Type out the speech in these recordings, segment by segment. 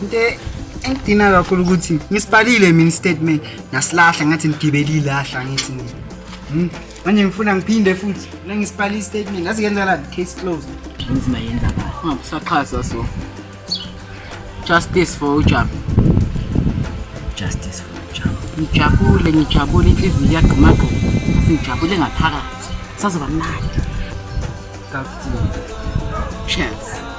Into engidina kakhulu ukuthi ngisibhalile mina istatement nasilahla ngathi ngigibele ilahla ngithi nje. Hmm, Manje ngifuna ngiphinde futhi la ngisibhala istatement ngazi kenza la case closed. Inzima yenza kahle. Ungabusaxhasa so. Justice for uJabu. Justice for Jabu. Ngijabule, ngijabule inhliziyo iyagqumagquma. Sijabule ngaphakathi. Sazoba mnandi. Kakuthini. Cheers.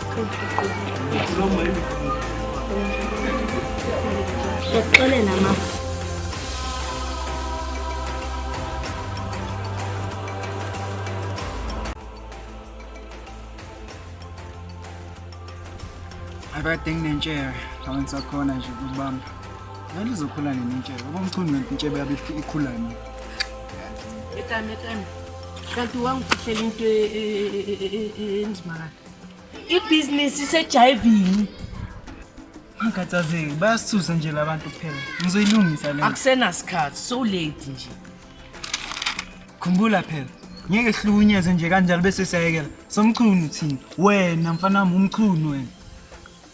Ngiyakuxolela mama. akade nginentshebe laba ngisakhona nje ukubamba ngani lizokhula nini intshebe uba mchunu ngento intshebe yabe ikhula nini etame etame kanti wangifihlela into enzima kade ibhizinisi isejayivini angikhathazeki bayasisusa nje labantu kuphela ngizoyilungisa le akusenasikhathi so late nje khumbula phela ngeke sihlukunyezwe nje kanjalo bese siyayekela somchunu thina wena mfana wami umchunu wena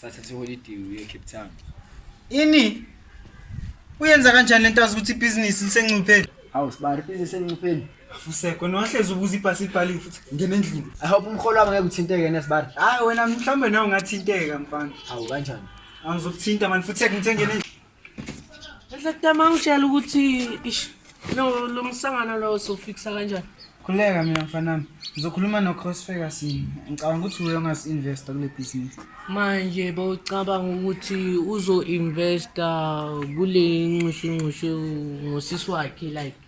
sathatha iholiday uye Cape Town ini uyenza kanjani lento azi ukuthi ibhizinisi lisencuphe hawu sibari business encupheni afuseko nohlezi ubuza ibhasi ibhaliwe futhi ngena endlini i hope umholo wami ngeke uthinteke nesibari hayi wena mhlawumbe nawe ungathinteka mfana hawu kanjani angizokuthinta mani futhi ngithe ngena endlini Ehlekutama ngitshela ukuthi ish lo lo msangano lo sofikisa kanjani? Khuleka mina mfanami. Ngizokhuluma no Cross Ferguson. Ngicabanga ukuthi uye ongas investor kule business. Manje bowucabanga ukuthi uzo investa kule nxushunxushu ngosisi wakhe like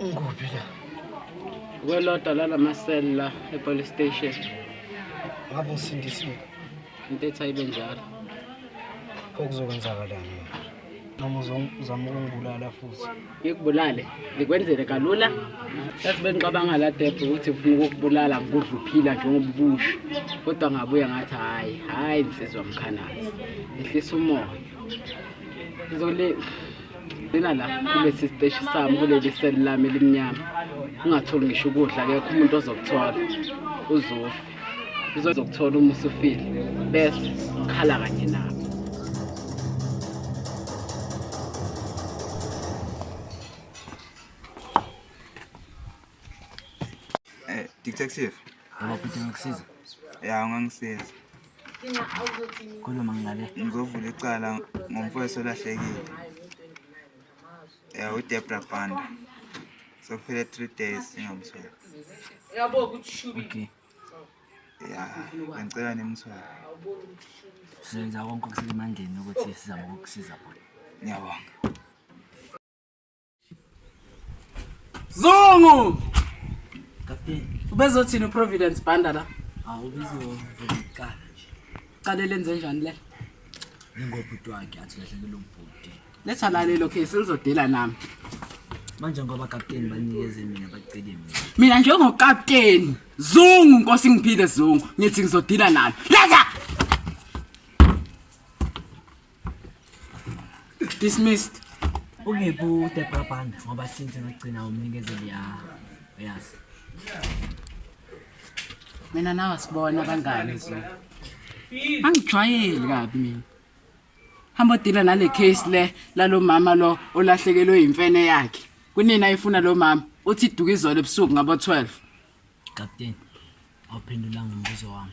Ngikuphi la? Kwelodwa lala maseli la epolice station. Ngabe usindisiwe? Intetha ibe njalo. Okuzokwenzakalani manje? Noma uzong- uzama ukungibulala futhi. Ngikubulale, ngikwenzele kalula. Yazi bengicabanga la Debhe ukuthi ngifuna ukukubulala ngikudla uphila njengoba ubusha. Kodwa ngabuya ngathi hhayi, hhayi nsizwa mkhanazi. Ehlisa umoya. Ngizole Ngena la kulesi siteshi sami kuleli seli lami elimnyama ungatholi ngisho ukudla kekho umuntu ozokuthola uzofi uzokuthola uma usufile bese khala kanye nawe eh, Detective, ngibaphethe ngikusiza. Ya, ungangisiza. khuluma ngale ngizovula icala ngomfowethu olahlekile um udebra banda sokuphele three days ingamtholi okay ya ngicela nimthole senza konke okusemandleni ukuthi sizame ukukusiza bona ngiyabonga Zungu! Captain. Ubezothini uProvidence Banda la? Hawu ubezovuka nje. Cala lenze njani le? Ngingobhuti wakhe athi lahlekele ubhuti. Letha la lelo case lizodela nami. Manje ngoba captain banikeze mina bacele mina. Mina njengo captain Zungu Nkosi ngiphile Zungu ngithi ngizodila nalo. Letha! Dismissed. Ungiphi uDebra Banda ngoba since ngigcina umnikezeli ya yazi. Mina nawe sibona kangani so. Angijwayeli kabi mina. Hamba dila nale case le lalomama lo olahlekelwe imfene yakhe. Kunina ifuna lo mama uthi duka izolo ebusuku ngabo 12. Captain, awuphendulanga umbuzo wami.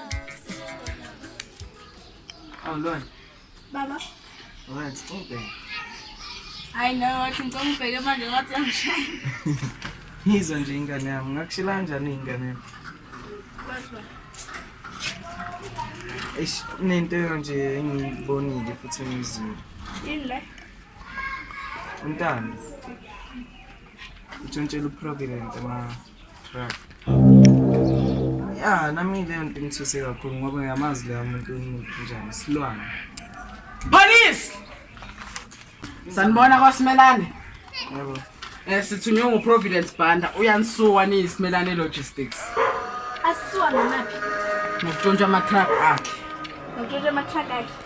Oh, Lord. Baba. Alright, stop there. I know, wathi ngicela ngibheke manje ngathi angishaya. Ngizwa nje ingane yami, ngakushila kanjani ingane yami? Eish, kunento nje engiyibonile futhi engiyizwile. Yini le? Untando. Utshontshela uProvident ma Ya, nami leyo nto ingithuse kakhulu ngoba ngiyamazi leyo muntu umuntu njani isilwane. Police! Sanibona kwaSimelane. Yebo. Eh sithunywe nguProvidence Banda uyanisuwa niyisimelane logistics. Asisuwa ngamaphi? Ngokuntshontsha ama-truck akhe. Ngokuntshontsha ama-truck akhe.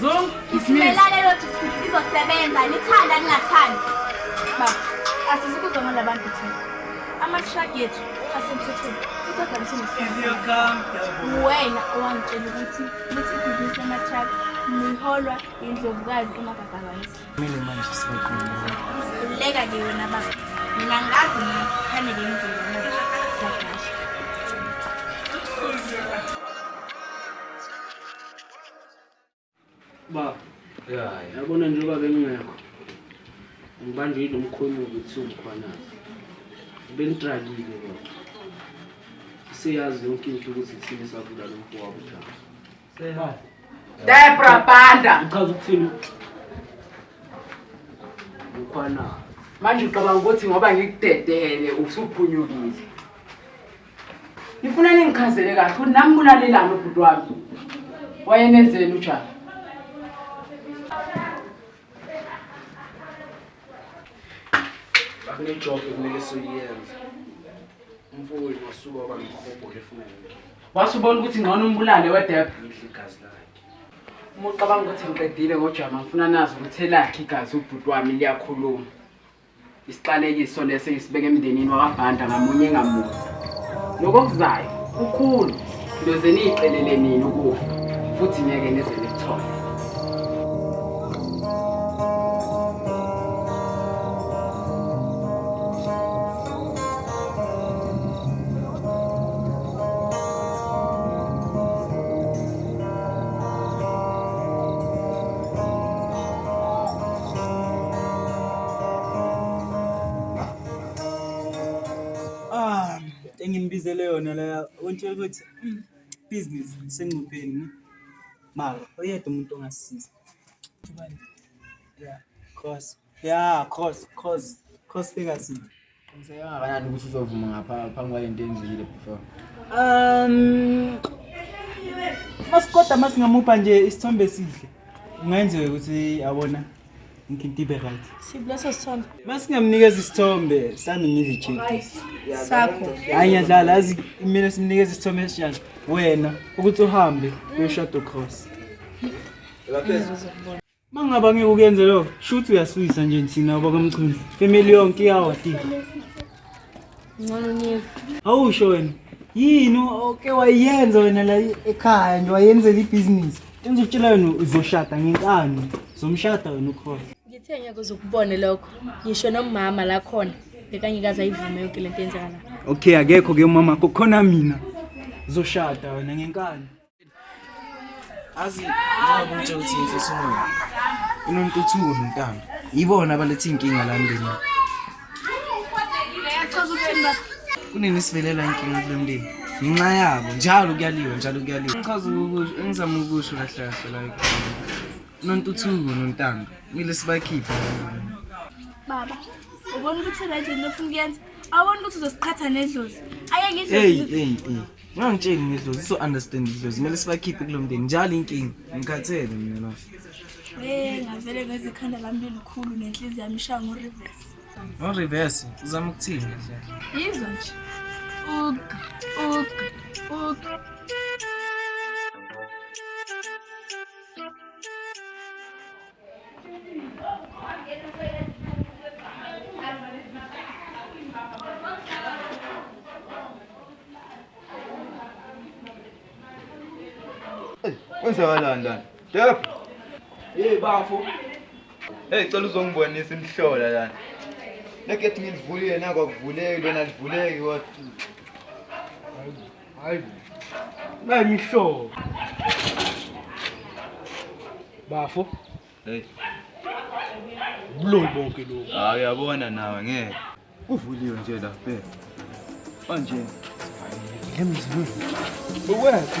Zung, isimelale lo district sizosebenza nithanda ningathandi. Baba, asizukuzwa ngala bantu thina. Ama-truck yethu asemthethweni futhi adalise nesikhundla. Wena owangitshela ukuthi lithi ibhizinisi lama-truck liholwa yindlovukazi emagagabasi. Kumele manje sibaqume. Khululeka ke wena baba. Mina ngazi mina kufanele ngenzeni manje. Siyadasha. Ba. Yeah. Yabona njengoba bengingekho. Ngibanjwe yilo mkhulu ukuthi ungikhwanazi. Bengitrakile kodwa. Siyazi yonke into ukuthi thina sabula lo mfo wabo njalo. Seba. Debra Banda. Uchaza ukuthini? Ukhwanazi. Manje ucabanga ukuthi ngoba ngikudedele usuphunyukile. Ngifuna ningichazele kahle ukuthi nami kulalelani ubhuti wami. Wayenenzeni uJabu? Kunejob ekumele siyenze. Umfowenu wasuka waba nomhobho efuna yonke. Wasubona ukuthi ngcono umbulale wedepha. Ngidla igazi lakhe. Uma ucabanga ukuthi ngiqedile ngoJama ngifuna nazi ukuthi elakhe igazi ubhuti wami liyakhuluma. Isiqalekiso lesi ngisibeke emndenini wakabhanda ngamunye ngamunye. Nokokuzayo kukhulu loze niyicelele nini ukufa futhi ngeke nize nithole. Ah, enginibizele yona la untshela ukuthi mm, business sengcupheni. Mara oyedwa umuntu ongasisiza. Yeah, cause yeah, cause cause cause figure Qiniseka kangakanani ukuthi uzovuma ngapha phambi kwale nto enzile before? Um Masikoda masingamupha nje isithombe esihle. Kungenzeka ukuthi awona inkinto ibe right. Sibulesa sithombe. Masingamnikeza isithombe sami ngizijeke. Sakho. Hayi ngiyadlala azi mina simnikeza isithombe esinjani. Wena ukuthi uhambe uyoshado cross. Lapha. Uma ngaba ngeke ukuyenze lokho, shuthi uyasuyisa nje thina bakamchunu. Family yonke iyawa tika. Ngcono niyeza. Awusho wena. Yini oke wayenza wena la ekhaya nje wayenzela ibhizinisi. Enza ukutshela wena uzoshada ngenkani. Zomshada wena ukhona. Ngithe ngeke uzokubone lokho. Ngisho nomama la khona bekangikaze ayivume yonke lento yenzakala. Okay akekho ke umama khona mina. Zoshada wena ngenkani. azi njengoba utshela ukuthi inhliso umoya inontuthuko nontando yibona abaletha iy'nkinga la mndeni kunini sivelelwa inkinga kule mndeni ngenxa yabo njalo kuyaliwa njalo kuyaliwa ngichaza ukusho engizama ukusho kahle kahle la nontuthuko nontando kumele sibakhiphe baba ubona ukuthi le nto ofuna ukuyenza awubona ukuthi uzosiqhatha nedlozi ayeke idlozi Ngangitsheni ngidlozi so understand idlozi kumele sibakhiphe kulo mndeni njalo inkinga ngikhathele mina la. Eh ngavele ngeze ikhanda lami lelikhulu nenhliziyo yami ishaya ngo reverse. Ngo reverse uzama ukuthini nje? Yizwa nje. Ug ug ug Kwenzakalani lana? Def. Hey bafo. Hey cela uzongibonisa imhlola lana. Lekethi ngilivulile nakho akuvuleki lona livuleki kodwa. Hayi. Nayi mihlobo. Bafo. Hey. Buloyi bonke lokho. Hayi ah, uyabona nawe ngeke. Kuvuliwe nje la bhe. Manje. Hayi, lemzini. Ukwethu.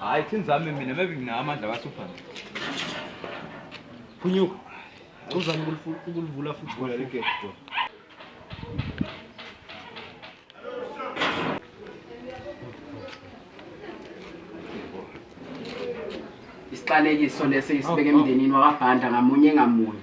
Hayi thini zami mina maybe nginawo amandla kaSuphana. Phunyuka. Uzama ukulivula futhi vula ligate bro. Isiqalekiso lesi isibeke emndenini wakabhanda ngamunye ngamunye.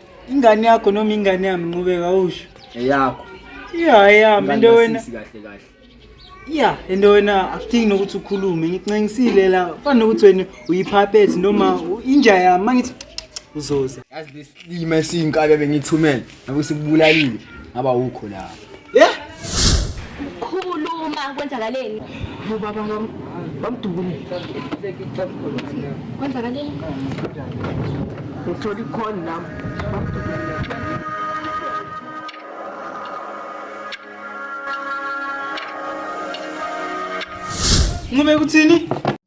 ingane yakho noma ingane yami nqubeka usho eyakho ya yami into wena kahle kahle ya into wena akudingi nokuthi ukhulume ngicingisile la fana nokuthi wena uyiphaphethi noma inja yami mangithi uzoza yazi lesilima esiyinkabi bengithumele ngabe sikubulalile ngaba ukho lapho Yeah? Khuluma kwenzakaleni? Ubaba ngam bamdubule. Kwenzakaleni? Ngithola ikhona nami. Ngome kuthini?